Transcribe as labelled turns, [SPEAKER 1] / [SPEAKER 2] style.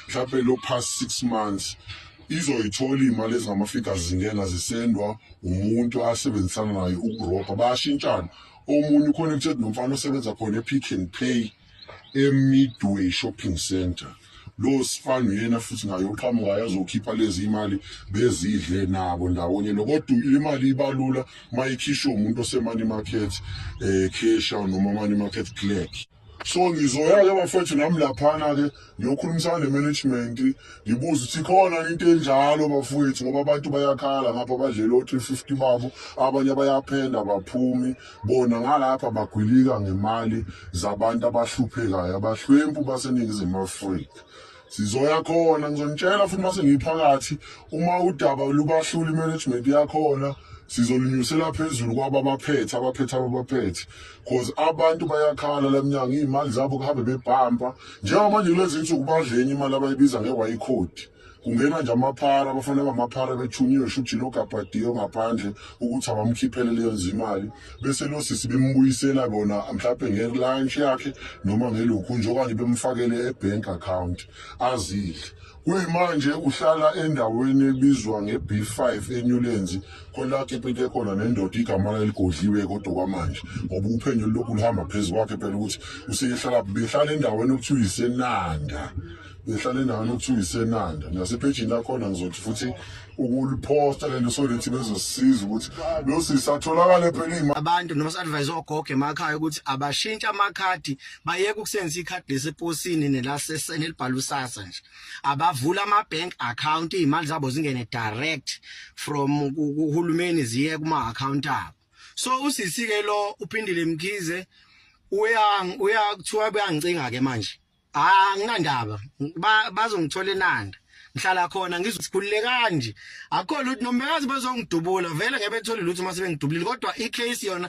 [SPEAKER 1] mhlawumbe lo past six months izoyithola iy'mali ezingama-figures zingena zisendwa umuntu asebenzisana naye ukurobha bayashintshana omunye uconnected nomfana osebenza khona e-pick and pay e-midway shopping center lo sifana uyena futhi naye uqhamuka yazokhipha lezi imali bezidle nabo ndawonye nokodwa imali ibalula uma ikhishwe umuntu osemani market um eh, casha noma mani market clerk so ngizoya-ke bafethu nami laphana-ke ngiyokhulumisana ne-management ngibuze ukuthi khona into enjalo bafowethu ngoba abantu bayakhala ngapha badlela o-three fifty babo abanye bayaphenda baphumi bona ngalapha bagwilika ngemali zabantu abahluphekayo abahlwempu baseningizimu afrika sizoya khona ngizonitshela futhi mase ngiphakathi uma udaba lubahlula imanagement yakhona sizolunyusela phezulu kwaba abaphethe abaphethe ababaphethe cause abantu bayakhala lemnyango iy'mali zabo kuhambe bebhampa njengamanje kulezi nsuku badleni imali abayibiza nge-ycode kungena nje amaphara abafana bamaphara bethunyiwe shuthi logabhadiyo ngaphandle ukuthi abamkhiphele leyo nzimali bese lo sisi bembuyisela kona mhlawumbe nge-lunch yakhe noma ngelokhu nje okanye bemfakele e-bank account azidle kuyimanje uhlala endaweni ebizwa nge-b five enyulenzi kwelakhe pete khona nendoda igama laligodliwe kodwa kwamanje ngoba uphenyo lulokhu luhamba phezu kwakhe phela ukuthi useyehlala behlala endaweni okuthiwa isenanda behlala endaweni okuthiwa isenanda nasephejini lakhona ngizothi futhi ukuliphosta lento so lethi bezosisiza ukuthi lo sisi atholakale phela imali abantu noma sadvise
[SPEAKER 2] ogogo emakhaya ukuthi abashintshe amakhadi bayeke ukusebenzisa ikhadi leseposini nelasesene elibhala usasa nje abavula ama bank account izimali zabo zingene direct from kuhulumeni ziye kuma account abo so usisi ke lo uphindile mkhize uyang uyakuthiwa kuyangicinga ke manje ah anginandaba bazongithola enanda ngihlala khona ngizosikhulule kanje akho lutho nomekazi bazongidubula vele ngebe thole lutho uma sebengidubulile kodwa icase yona